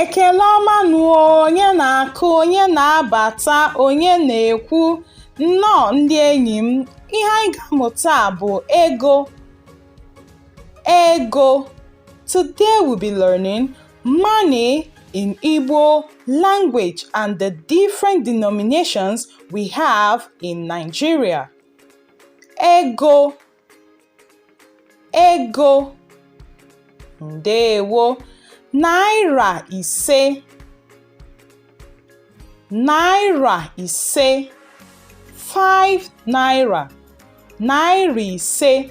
Ekele ọma nụ onye na-akụ, onye na-abata, onye na-ekwu, nnọọ ndị enyi m, ihe anyị ga-amụ taa bụ ego. Ego. Today we'll be learning Money in Igbo language and the different denominations we have in Nigeria. Ego, ego, ndewo, naira ise, naira ise, five naira, naira ise.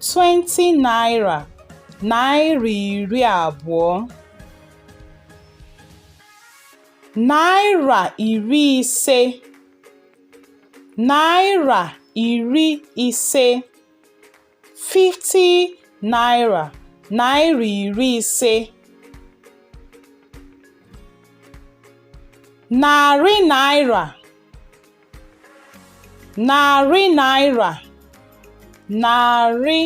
20 naira naira iri abụọ naira iri ise naira iri ise 50 naira naira iri ise narị naira narị naira narị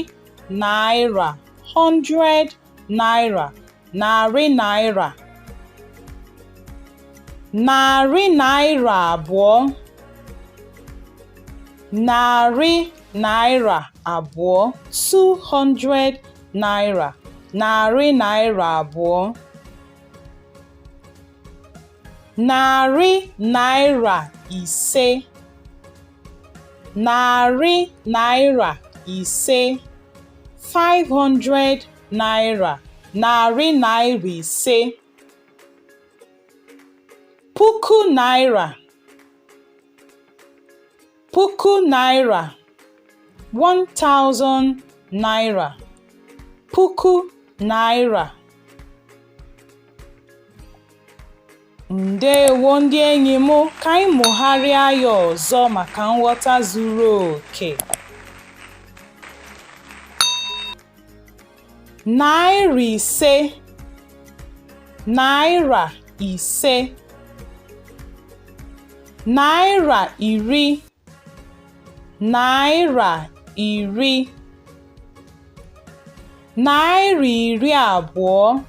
naira 100 naira narị naira narị naira abụọ narị naira abụọ 200 naira narị naira abụọ Narị naira ise. Narị naira ise. 500 naira. Narị naira ise. Puku naira. Puku naira, 1000 naira. Puku naira. Ndewo ndị enyi m, ka anyị mụgharịa ya ọzọ maka nghọta zuru oke. naira ise naira ise naira iri naira iri naira iri abụọ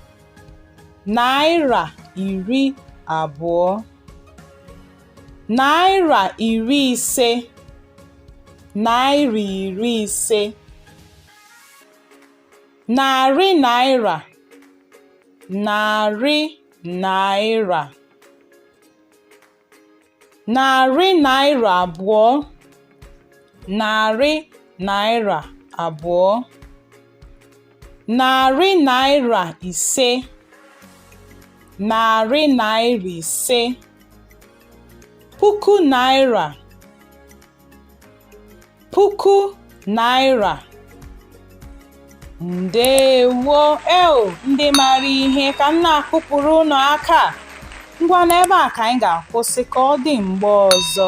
naira iri abụọ naira iri ise naira iri ise Narị naira narị naira narị naira abụọ narị naira abụọ narị naira ise narị naira ise puku naira puku naira ndewo eo ndị maara ihe ka m na-akụpụrụ unu aka ngwa n'ebe a ka anyị ga-akwụsị ka ọ dị mgbe ọzọ